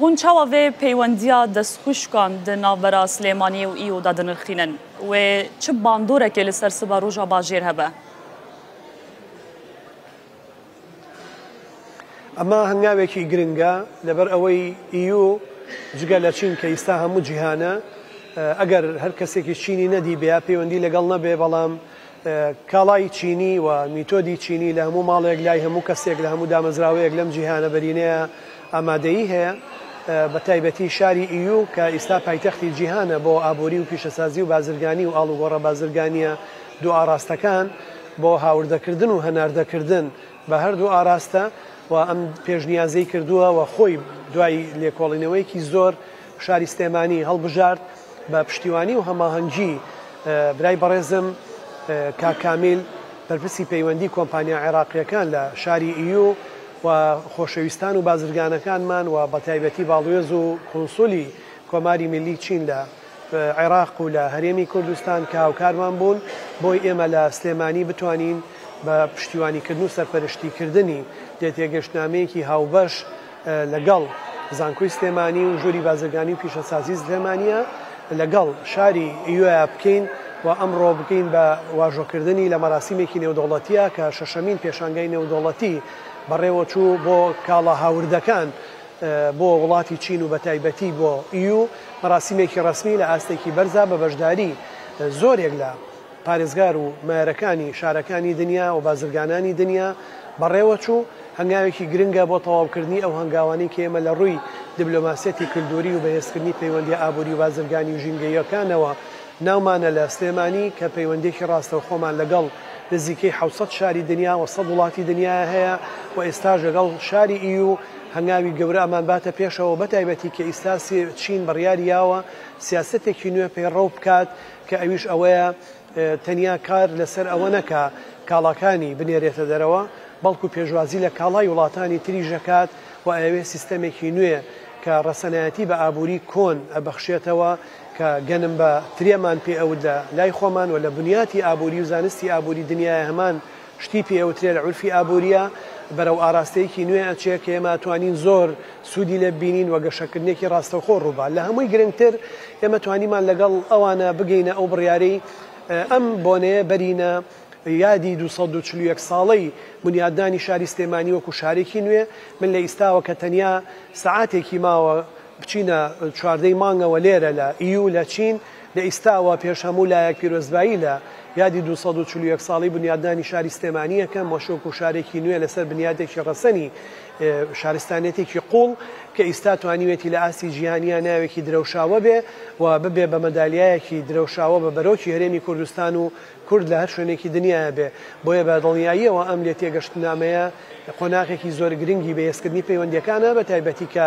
هون چاوا ڤێ پەیوەندیا دەسخوشکان د ناڤبەرا سلێمانیێ و ئیو دا دنرخینن؟ وێ چ باندۆرەکێ لە سەر سبە رووژا باژێر هەبە؟ ئەمە هەنگاوێکی گرنگە لەبەر ئەوەی ئیو جگە لە چین کە ئیستا هەموو جیهانە ئەگەر هەر کەسێکی چینی نەدیبێ یا پەیوەندی لەگەڵ نەبێ بەڵام کاڵای چینی و میتۆدی چینی لە هەموو ماڵێک، لای هەموو کەسێک، لە هەموو دامەزراوەیەک لەم جیهانە بەرینەیە ئامادەیی هەیە. بە تایبەتی شاری ئیو کە ئیستا پایتەختی جیهانە بۆ ئابووری و پیشەسازی و بازرگانی و ئاڵوگۆڕە بازرگانییە دوو ئاراستەکان بۆ هاوردەکردن و هەناردەکردن بە هەردوو ئاراستە و ئەم پێشنیازەی کردووە و خۆی دوای لێکۆڵینەوەیەکی زۆر شاری سلێمانی هەڵبژارد بە پشتیوانی و هەماهەنگی برای بەڕێزم کاک کامیل بەرپرسی پەیوەندی کۆمپانیا عێراقیەکان لە شاری ئیو و خۆشەویستان و بازرگانەکانمان و بەتایبەتی باڵوێز و کونسولی کۆماری میلی چین لە عێراق و لە هەرێمی کوردستان کە هاوکارمان بوون بۆی ئێمە لە سلێمانی بتوانین بە پشتیوانیکردن و سەرپەرشتیکردنی لێتێگەشتنامەیەکی هاوبەش لەگەڵ زانکۆی سلێمانی و ژووری بازرگانی و پیشەسازی سلێمانیە لەگەڵ شاری ئیوەیا بکەین و ئەمڕۆ بکەین بە واژۆکردنی لە مەراسیمێکی نێودەوڵەتیە کە شەشەمین پێشانگای نێودەوڵەتی بەڕێوەچوو بۆ کاڵا هاوردەکان بۆ وڵاتی چین و بەتایبەتی بۆ ئیو مەراسیمێکی ڕەسمی لە ئاستێکی بەرزا بە بەشداری زۆرێک لە پارێزگار و مایەرەکانی شارەکانی دنیا و بازرگانانی دنیا بەڕێوە چوو، هەنگاوێکی گرنگە بۆ تەواوکردنی ئەو هەنگاوانەی کە ئێمە لە ڕووی دبلۆماسیەتی کلدوری و بەهێزکردنی پەیوەندیە ئابوری و بازرگانی و ژینگەییەکانەوە ناومانە لە سلێمانی کە پەیوەندیەکی ڕاستەوخۆمان لەگەڵ نزیکەی حەوت سەد شاری دنیا و سەد وڵاتی دنیا هەیە و ئێستاش لەگەڵ شاری ئیو هەنگاوی گەورە ئەمان باتە پێشەوە بەتایبەتی کە ئیستا چین بڕیاریاوە سیاسەتێکی نوێ پەیڕەو بکات کە ئەویش ئەوەیە تەنیا کار لەسەر ئەوە نەکا کاڵاکانی بنێرێتە دەرەوە، بەڵکو پێشوازی لە کاڵای وڵاتانی تریش ئەکات و ئەیەوێ سیستەمێکی نوێ کە ڕەسەنایەتی بە ئابووری کۆن ئەبەخشێتەوە کە گەنم بە ترێمان پێ ئەوت لە لای خۆمان و لە بنیاتی ئابووری و زانستی ئابووری دنیایە هەمان شتی پێ ئەوترێ لە عورفی ئابوورییا بەرەو ئاراستەیەکی نوێ ئەچێ کە ئێمە ئەتوانین زۆر سوودی لێ ببینین و گەشەکردنێکی ڕاستەوخۆ ڕووبا. لە هەمووی گرنگتر ئێمە توانیمان لەگەڵ ئەوانە بگەینە ئەو بڕیارەی ئەم بۆنەیە بەرینە یادی دوو سەد و چل و یەک ساڵەی بنیادنانی شاری سلێمانی وەکوو شارێکی نوێ. من لە ئیستاوە کە تەنیا سەعاتێکی ماوە بچینە چواردەی مانگەوە لێرە لە ئیوو لە چین، لە ئیستاوە پێش هەموو لایەک پیرۆزبایی لە یادی دوو سەد و چل و یەک ساڵی بنیادنانی شاری سلێمانی ئەکەم و شوقە و شارێکی نوێ لەسەر بنیادێکی ڕەسەنی شارستانیەتێکی قوڵ کە ئیستا توانیوێتی لە ئاستی جیهانیا ناوێکی درەوشاوە بێ و ببێ بە مەدالیایەکی درەوشاوە بە بەرۆکی هەرێمی کوردستان و کورد لە هەر شوێنێکی دنیایا بێ بۆیە بە دڵنیاییەوە ئەم لێتێگەشتنامەیە قۆناغێکی زۆر گرنگی بەهێزکردنی پەیوەندیەکانە بە تایبەتی کە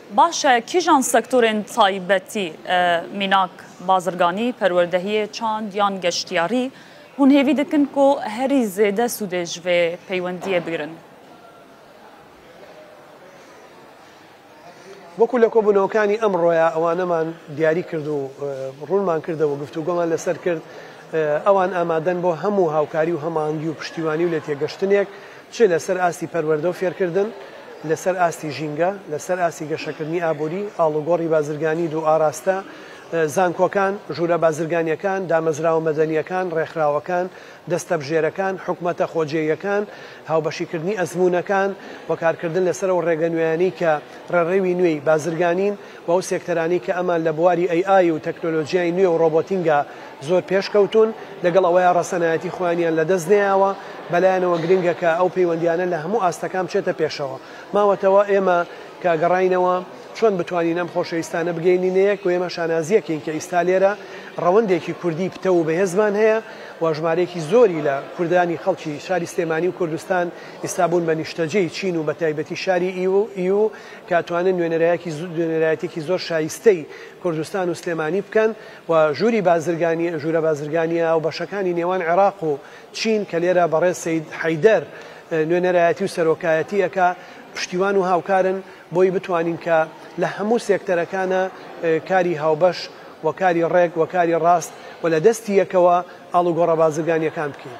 باشە کیژان سەکتۆرێن تایبەتی، میناک، بازرگانی، پەروەردەهیێ، چاند یان گەشتیاری، هون هێوی دکن ک هەری زێدە سوودێ ژ ڤێ پەیوەندییە بگرن؟ وەکو لە کۆبونەوەکانی ئەمڕۆیا ئەوانەمان دیاری کرد و ڕونمان کردە وە گفتوگۆمان لەسەر کرد ئەوان ئامادەن بۆ هەمو هاوکاری و هەماهەنگی و پشتیوانی و لێتێگەشتنێک، چ لەسەر ئاستی پەروەردە و فێرکردن، لەسەر ئاستی ژینگە، لەسەر ئاستی گەشەکردنی ئابووری، ئاڵوگۆڕی بازرگانی دوو ئاراستە، زانکۆکان، ژوورە بازرگانییەکان، دامەزراوە مەدەنییەکان، ڕێکخراوەکان، دەستەبژێرەکان، حکومەتە خۆجێیەکان، هاوبەشیکردنی ئەزموونەکان و کارکردن لەسەر ئەو ڕێگە نوێیانەی کە ڕێڕەوی نوێی بازرگانین و ئەو سێکتەرانەی کە ئەمان لە بواری ئەی ئای و تەکنۆلۆجیای نوێ و ڕۆبۆتینگا زۆر پێش کەوتوون، لەگەڵ ئەوەیا ڕەسەنایەتی خۆیانیان لە دەست نەیاوە، بەلایانەوە گرنگە کە ئەو پەیوەندیانە لە هەموو ئاستەکان بچێتە پێشەوە. ماوەتەوە ئێمە کە گەڕاینەوە چۆن بتوانین ئەم خۆشەویستانە بگەینینە یەک و ئێمە شانازیەکین کە ئیستا لێرە ڕەوەندێکی کوردی پتەو و بەهێزمان هەیە و ژمارەیەکی زۆری لە کوردانی خەڵکی شاری سلێمانی و کوردستان ئیستا بوون بە نیشتەجێی چین و بەتایبەتی شاری ئیو ئیو کە توانن نوێنەرایەکی نوێنەرایەتیەکی زۆر شایستەی کوردستان و سلێمانی بکەن و ژووری بازرگانی ژوورە بازرگانیە هاوبەشەکانی نێوان عێراق و چین کە لێرە بەڕێز سەید حەیدەر نوێنەرایەتی و سەرۆکایەتی ئەکا پشتیوان و هاوکارن بۆی بتوانین کە لە هەموو سێکتەرەکانە کاری هاوبەش و کاری ڕێک و کاری ڕاست و لە دەستی یەکەوە ئاڵوگۆڕە بازرگانیەکان بکەین.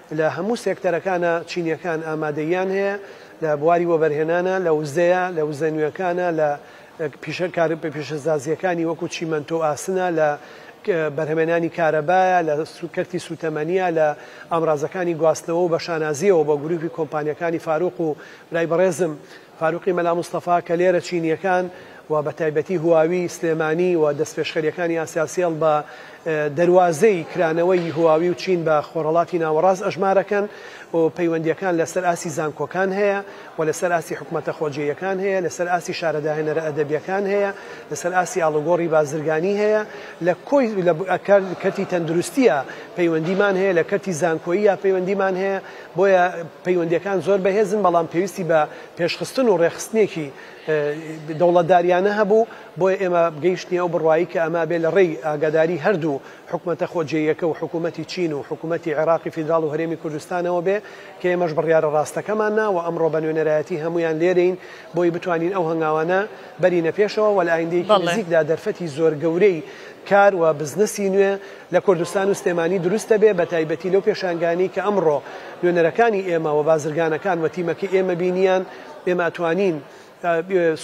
لە هەموو سێکتەرەکانا چینیەکان ئامادەییان هەیە، لە بواری وەبەرهێنانا، لە وزەیا، لە وزە نوێکانا، لە پیشە کارە پیشەسازییەکانی وەکو چیمەنتۆ و ئاسنا، لە بەرهەمێنانی کارەبایا، لە کەرتی سوتەمەنیا، لە ئامرازەکانی گواستنەوە و بەشانازییەوە بۆ گروپی کۆمپانیەکانی فاروق و برای بەڕێزم، فاروقی مەلا مستەفا کە لێرە چینییەکان و بە تایبەتی هواوی سلێمانی و دەستپێشخەرییەکانی ئاسیاسێڵ بە دەروازەی کرانەوەی هواوی و چین بە خۆرهەڵاتی ناوەڕاست ئەژمارەکەن و پەیوەندییەکان لە سەر ئاستی زانکۆکان هەیە و لە سەر ئاستی حکومەتە خۆجێیەکان هەیە لە سەر ئاستی شارە داهێنەرە ئەدەبییەکان هەیە لە سەر ئاستی ئاڵوگۆڕی بازرگانی هەیە لە کۆی لە کەرتی تەندروستییە پەیوەندیمان هەیە لە کەرتی زانکۆییە پەیوەندیمان هەیە بۆیە پەیوەندییەکان زۆر بەهێزن، بەڵام پێویستی بە پێشخستن و ڕێکخستنێکی دەوڵەتدارییانە هەبوو، بۆیە ئێمە گەیشتنیە ئەو بڕوایی کە ئەمە بێ لە ڕێی ئاگاداری هەردوو حکومەتە خۆجێیەکە و حکومەتی چین و حکومەتی عێراقی فیدراڵ و هەرێمی کوردستانەوە بێ کە ئێمەش بڕیارە ڕاستەکەمانە و ئەمڕۆ بە نوێنەرایەتی هەموویان لێرەین بۆی بتوانین ئەو هەنگاوانە بەرینە پێشەوە و لە ئایندەیەکی نزیکدا دەرفەتی زۆر گەورەی کار و بزنسی نوێ لە کوردستان و سلێمانی دروست دەبێ بە تایبەتی لەو پێشانگانەی کە ئەمڕۆ نوێنەرەکانی ئێمە و بازرگانەکان و تیمەکەی ئێمە بینیان ئێمە ئەتوانین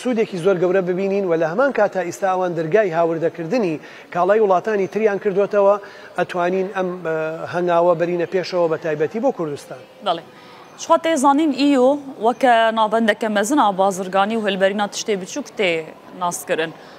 سوودێکی زۆر گەورە ببینین و لە هەمان کات تا ئیستا ئەوان دەرگای هاوردەکردنی کاڵای وڵاتانی تریان کردۆتەوە ئەتوانین ئەم هەنگاوە بەرینە پێشەوە بە تایبەتی بۆ کوردستان. بەڵێ. شخوا تێ زانین ئی و وەکە ناوبەندەکە مەزنا بازرگانی و هەلبەرینا تشتێ بچووک تێ ناسکرن.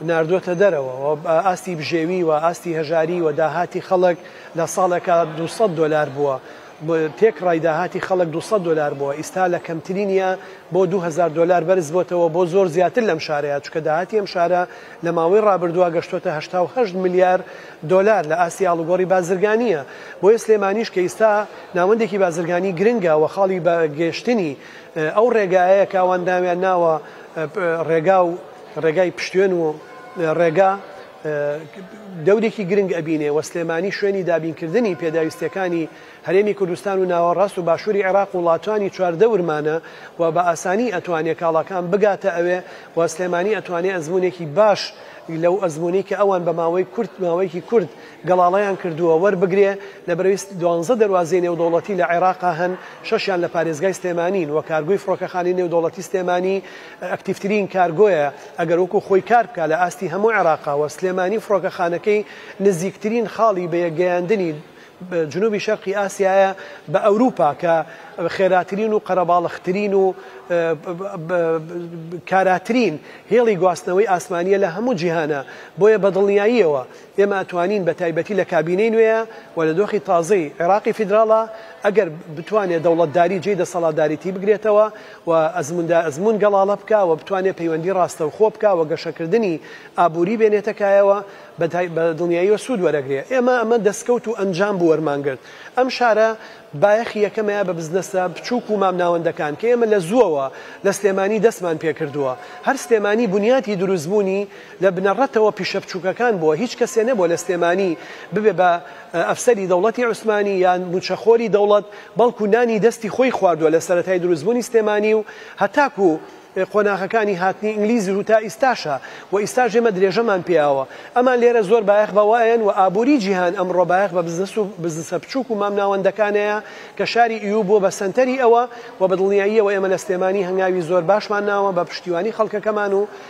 ناردووەتە دەرەوە و ئاستی بژێوی و ئاستی هەژاری و داهاتی خەڵک لە ساڵێکا دوو سەد دۆلار بووە تێکڕای داهاتی خەڵک دوو سەد دۆلار بووە ئیستا لە کەمترینیا بۆ دوو هەزار دۆلار بەرز بۆتەوە بۆ زۆر زیاتر لەم شارەیا چونکە داهاتی ئەم شارە لە ماوەی ڕابردووا گەشتۆتە هەشتا و هەشت ملیار دۆلار لە ئاستی ئاڵوگۆڕی بازرگانیە بۆیە سلێمانیش کە ئیستا ناوەندێکی بازرگانی گرنگە و خاڵی بە گەشتنی ئەو ڕێگایەیە کاوان داویان ناوە ڕێگا و ڕێگای پشتوێن و ڕێگا دەورێکی گرنگ ئەبینێ و سلێمانی شوێنی دابینکردنی پێداویستیەکانی هەرێمی کوردستان و ناوەڕاست و باشووری عێراق وڵاتانی چواردەورمانە و بە ئاسانی ئەتوانێ کاڵاکان بگاتە ئەوێ و سلێمانی ئەتوانێ ئەزموونێکی باش لەو ئەزموونەی کە ئەوان بە ماوەی کورت ماوەیەکی کورت گەڵاڵەیان کردووە وەربگرێ لەبەرەی دوانزە دەروازەی نێودەوڵەتی لە عێراقا هەن شەشیان لە پارێزگای سلێمانین و کارگوی فڕۆکەخانەی نێودەوڵەتی سلێمانی ئەکتیڤترین کارگۆیە ئەگەر وەکو خۆی کار بکا لە ئاستی هەموو عێراقا و سلێمانی فڕۆکەخانەکەی نزیکترین خاڵی بەیەک گەیاندنی جنوبی شەرقی ئاسیایە بە ئەوروپا کە خێراترین و قەرەباڵغترین و کاراترین هێڵی گواستنەوەی ئاسمانیە لە هەموو جیهانا بۆیە بە دڵنیاییەوە ئێمە ئەتوانین بە تایبەتی لە کابینەی نوێیە و لە دۆخی تازەی عێراقی فیدراڵا ئەگەر بتوانێ دەوڵەتداری جێی دەسەڵاتداریتی بگرێتەوە و ئەزمووندا ئەزموون گەڵاڵە بکا و بتوانێ پەیوەندی ڕاستەوخۆ بکا و گەشەکردنی ئابووری بێنێتە کایەوە بە دڵنیاییەوە سوود وەرەگرێ. ئێمە ئەمە دەسکەوت و ئەنجام بوو وەرمان گرت. ئەم شارە بایەخی یەکەمەیە بە بزنەسە بچووک و مامناوەندەکان کە ئێمە لە زووەوە لە سلێمانی دەستمان پێ کردووە. هەر سلێمانی بنیاتی دروستبوونی لە بنەڕەتەوە پیشە بچووکەکان بووە. هیچ کەسێ نەبووە لە سلێمانی ببێ بە ئەفسەری دەوڵەتی عوسمانی یان مووچەخۆری دەوڵەت، بەڵکو نانی دەستی خۆی خواردووە لە سەرەتای دروستبوونی سلێمانی و هەتاکو قۆناغەکانی هاتنی ئینگلیز و تا ئیستاشە و ئیستاش ئێمە درێژەمان پێاوە ئەمان لێرە زۆر بایەخ بە وەئەن و ئابووری جیهان ئەمڕۆ بایەخ بە بزنس و بزنسە بچووک و مامناوەندەکانەیە کە شاری ئیوو بووە بە سەنتەری ئەوە و بە دڵنیاییەوە ئێمە لە سلێمانی هەنگاوی زۆر باشمان ناوە بە پشتیوانی خەڵکەکەمان و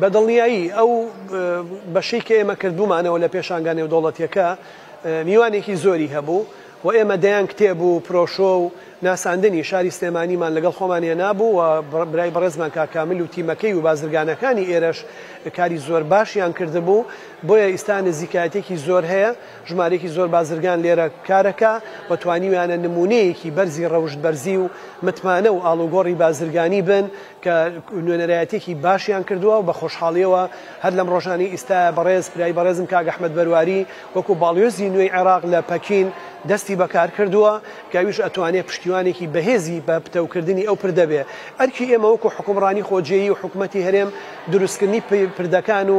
بە دڵنیایی ئەو بەشەی کە ئێمە کردبوومانەوە لە پێشانگا نێودەوڵەتیەکە میوانێکی زۆری هەبوو و ئێمە دەیان کتێب و پرۆشۆ و ناساندنی شاری سلێمانیمان لەگەڵ خۆمان هێنابوو و برای بەڕێزمان کاکامل و تیمەکەی و بازرگانەکانی ئێرەش کاری زۆر باشیان کردبوو بۆیە ئیستا نزیکایەتێکی زۆر هەیە ژمارێکی زۆر بازرگان لێرە کارەکە و توانیویانە نمونەیەکی بەرزی ڕەوشت بەرزی و متمانە و ئاڵوگۆڕی بازرگانی بن کە نوێنەرایەتیەکی باشیان کردوە و بە خۆشحاڵیەوە هەر لەم ڕۆژانەی ئیستایە بەڕێز برای بەڕێزم کاک ئەحمەد بەرواری وەکو باڵیۆزی نوێی عێراق لە پەکین دەستی بە کار کردوە کە ئەویش ئەتوانێ پشتیوانێکی بەهێزی بە پتەو کردنی ئەو پردە بێ ئەرکی ئێمە وەکو حکومڕانی خۆجێی و حکومەتی هەرێم دروست کردنی پردەکان و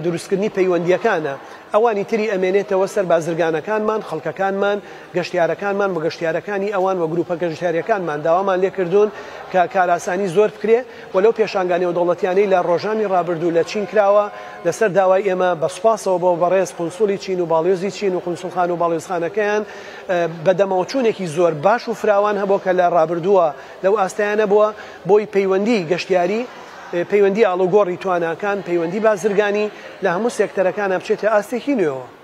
دروست کردنی پەیوەندیەکانە ئەوانی تری ئەمێنێتەوە سەر بازرگانەکانمان خەڵکەکانمان گەشتیارەکانمان و گەشتیارەکانی ئەوان و گروپە گەشتیاریەکانمان داوامان لێکردوون کە کارئاسانی زۆر بکرێ و لەو پێشانگا نێودەوڵەتیانەی لە ڕۆژانی ڕابردوو لە چین کراوە لەسەر داوای ئێمە بە سوپاسەوە بۆ بەڕێز قونسوڵی چین و باڵیۆزی چین و قونسوڵخانە و باڵیۆزخانەکەیان بەدەمەوەچوونێکی زۆر باش و فراوان هەبووە کە لە ڕابردووە لەو ئاستەیە نەبووە بۆی پەیوەندی گەشتیاری پەیوەندی ئاڵوگۆڕی تواناکان پەیوەندی بازرگانی لە هەموو سێکتەرەکانا بچێتە ئاستێکی نوێوە.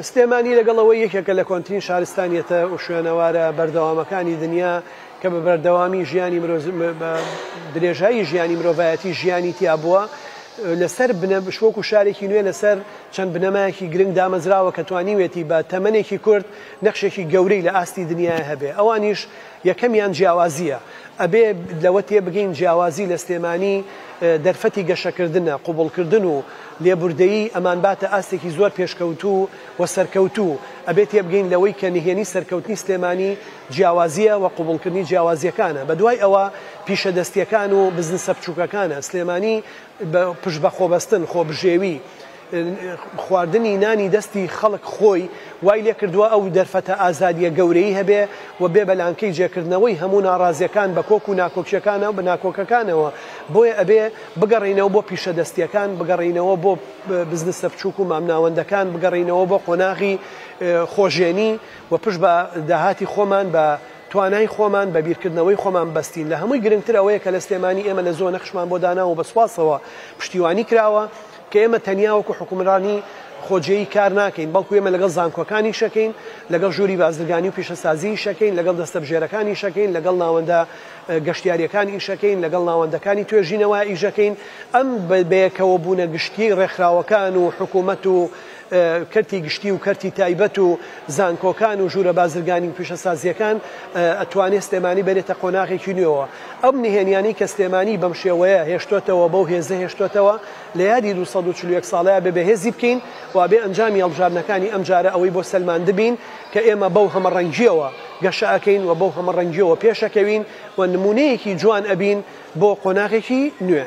سلێمانی لەگەڵ ئەوەی یەکێکە لە کۆنترین شارستانیەتە وشوێنەوارە بەردەوامەکانی دنیا کە بە بەردەوامی ژیانی درێژایی ژیانی مرۆڤایەتی ژیانی تیا بووە لەسەر بنەبشوەک و شارێکی نوێ لەسەر چەند بنەمایەکی گرنگ دامەزراوە کە توانیوێتی بە تەمەێکی کورت نەخشێکی گەورەی لە ئاستی دنیای هەبێ ئەوانیش یەکەمیان جیاوازییە، ئەبێ لەوە تێبگەین جیاوازی لە سلێمانی دەرفەتی گەشەکردنە، قبوڵکردن و لێبوردەیی ئەمانباتە ئاستێکی زۆر پێشکەوتوو و سەرکەوتوو، ئەبێ تێبگەین لەوەی کە نهێنی سەرکەوتنی سلێمانی جیاوازییە و قبوڵکردنی جیاوازییەکانە، بەدوای ئەوە پیشەدەستییەکان و بزنسە بچووکەکانە، سلێمانی بە پشت بە خۆبەستن، خۆبژێوی، خواردنی نانی دەستی خەڵک خۆی وای لێکردووە ئەو دەرفەتە ئازادییە گەورەی هەبێ و بێ بە لانکەی جێکردنەوەی هەموو ناڕازییەکان بە کۆک و ناکۆکییەکانەوە ناکۆکەکانەوە، بۆیە ئەبێ بگەڕێینەوە بۆ پیشە دەستییەکان، بگەڕێینەوە بۆ بزنسە بچووک و مامناوەندەکان، بگەڕێینەوە بۆ قۆناغی خۆژێنی و پشت بە داهاتی خۆمان بە توانای خۆمان بە بیرکردنەوەی خۆمان بەستین، لە هەمووی گرنگتر ئەوەیە کە لە سلێمانی ئێمە لە زۆ نەخشمان بۆ داناوە و بە سوپاسەوە پشتیوانی کراوە کە ئێمە تەنیا وەکو حکومرانی خۆجێی کار ناکەین بەڵکو ئێمە لەگەڵ زانکۆکان ئیش ئەکەین، لەگەڵ ژووری بازرگانی و پیشەسازی ئیش ئەکەین، لەگەڵ دەستەبژێرەکان ئیش ئەکەین، لەگەڵ ناوەندە گەشتیاریەکان ئیش ئەکەین، لەگەڵ ناوەندەکانی توێژینەوە ئیش ئەکەین، ئەم بەیەکەوە بوونە گشتیەی ڕێکخراوەکان و حکومەت و کەرتی گشتی و کەرتی تایبەت و زانکۆکان و ژوورە بازرگانی و پیشەسازییەکان ئەتوانێ سلێمانی بەرێتە قۆناغێکی نوێوە ئەم نهێنیانەی کە سلێمانی بەم شێوەیە هێشتۆتەوە بەو هێزە هێشتۆتەوە لە یادی دوو سەد و چل و یەک ساڵەیا بێ بەهێزی بکەین وابێ ئەنجامی هەڵبژاردنەکانی ئەم جارە ئەوەی بۆ سەلماندبین کە ئێمە بەو هەمەڕەنگییەوە گەشە ئەکەین و بەو هەمەڕەنگییەوە پێشەکەوین و نموونەیەکی جوان ئەبین بۆ قۆناغێکی نوێ.